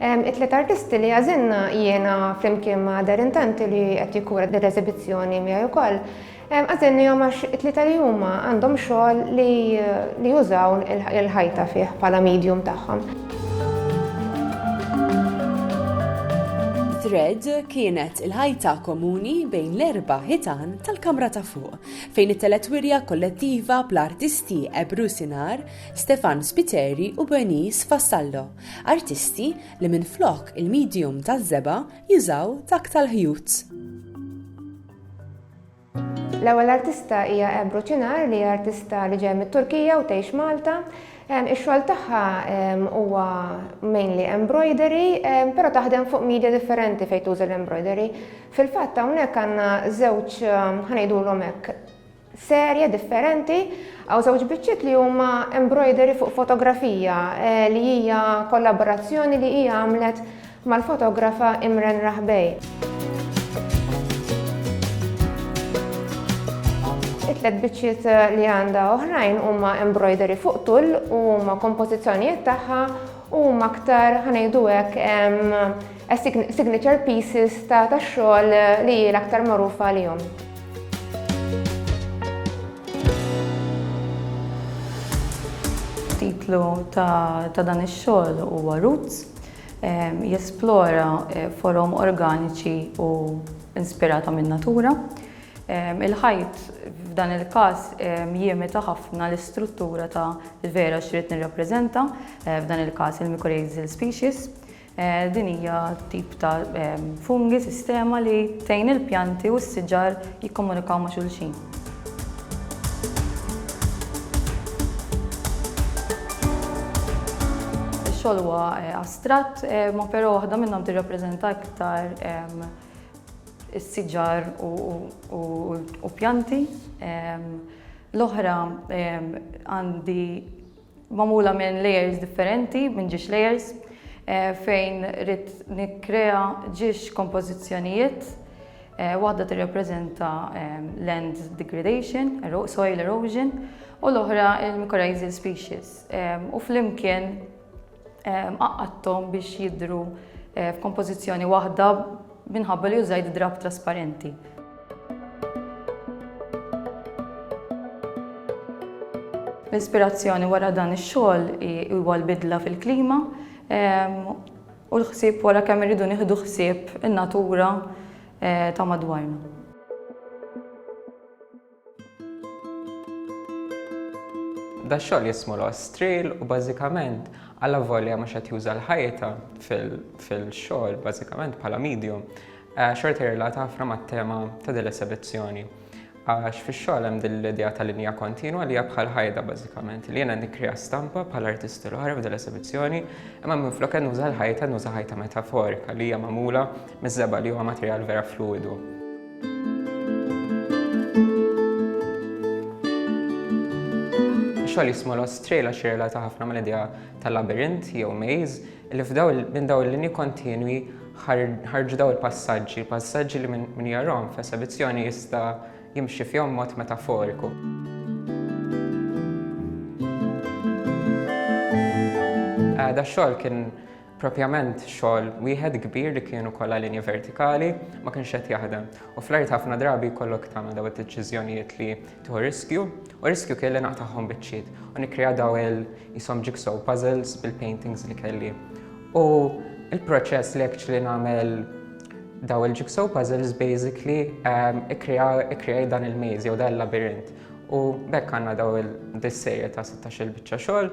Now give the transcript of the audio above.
It-tliet artisti li għażilna jiena flimkien ma' Darren Tanti li qed jikkura din l-eżibizzjoni miegħi wkoll, għażilnihom għax it-tlieta li huma għandhom xogħol li jużaw il-ħajta fih bħala medium tagħhom. Thread kienet il-ħajta komuni bejn l-erba' ħitan tal-kamra ta' fuq, fejn it-telet wirja kollettiva bl-artisti Ebru Sinar, Stefan Spiteri u Bernice Vassallo. Artisti li minflok il-medium taż-żebgħa jużaw dak tal-ħjut. L-ewwel artista hija Ebru Ċinar li artista li ġej mit-Turkija u tgħix Malta. Ix-xogħol tagħha huwa mainly embroidery, però taħdem fuq media differenti fejn tuża l-embroidery. Fil-fatt hawnhekk għandna żewġ ħanejdulhom hekk serje differenti, hawn żewġ biċċiet li huma embroidery fuq fotografija li hija kollaborazzjoni li hija għamlet mal-fotografa Imren Rahbey. It-tliet biċċiet eh, li għandha oħrajn huma embroidery fuq tul u huma kompożizzjonijiet tagħha u aktar ħanejdu hekk signature pieces ta' tax-xogħol li hi l-aktar magħrufa għalihom. Titlu ta' dan ix-xogħol huwa Roots jesplora eh, forom organiċi u inspirata minn natura. Il-ħajt f'dan il-każ jiemita ħafna l-istruttura ta' vera xrid nirrappreżenta, eh, f'dan il-każ il-mycorrhizal species. Din hija tip ta' fungi, sistema li tgħin il-pjanti u s-siġar jikkomunikaw ma' xulxin. Ix-xogħol huwa astratt, imma però waħda minnhom tirrappreżenta iktar is-siġar u pjanti. L-oħra għandi magħmula minn layers differenti, minn ġiex layers, fejn ridt nikkrea ġiex kompożizzjonijiet, waħda tirrappreżenta land degradation, soil erosion, u l-oħra l-mycorrhizal species, u flimkien għaqqadthom biex jidhru f'kompożizzjoni waħda Minħabba li użajt drapp trasparenti. L-ispirazzjoni wara dan ix-xogħol huwa l-bidla fil-klima ehm, u l-ħsieb wara kemm irridu nieħdu ħsieb in-natura eh, ta' madwarna. Da xogħol jismu l-ostril u bażikament għalla volja mhux qed juża l-ħajta fil-xogħol bażikament bħala medium eh, xorti jirrelata ħafna mat-tema ta' din l-esibizzjoni. Għax fix-xogħol hemm din l-idea ta' linja kontinwa li hija bħal ħajda bażikament li jiena nikkrija stampa bħal artisti l-oħra f'din l-esibizzjoni imma minflok qed nuża l-ħajta nuża ħajta metaforika li hija magħmula miż-żebgħa li huwa materjal vera fluidu. xogħol jismu Lost Trail għax jirrelata ħafna mal-idea tal-labirint jew maze li f'daw minn daw il-linji kontinwi ħarġu daw il-passaġġi, passaġġi li minn jarhom f'esebizzjoni jista' jimxi fihom mod metaforiku. Eh, da xogħol kien Propjament xogħol wieħed kbir li kien ukoll għal linja vertikali ma kienx qed jaħdem. U fl-art ħafna drabi jkollok tagħmel daw id-deċiżjonijiet li tieħu riskju, u riskju kien li naqtagħhom biċċiet u nikkrea daw il jisom jigsaw puzzles bil-paintings li kelli. U il-proċess li actually nagħmel daw il-jigsaw puzzles basically ehm, ikkrea dan il-maze jew dan il-labirint. U bekk għandna daw il-dissejja ta' 16 biċċa xogħol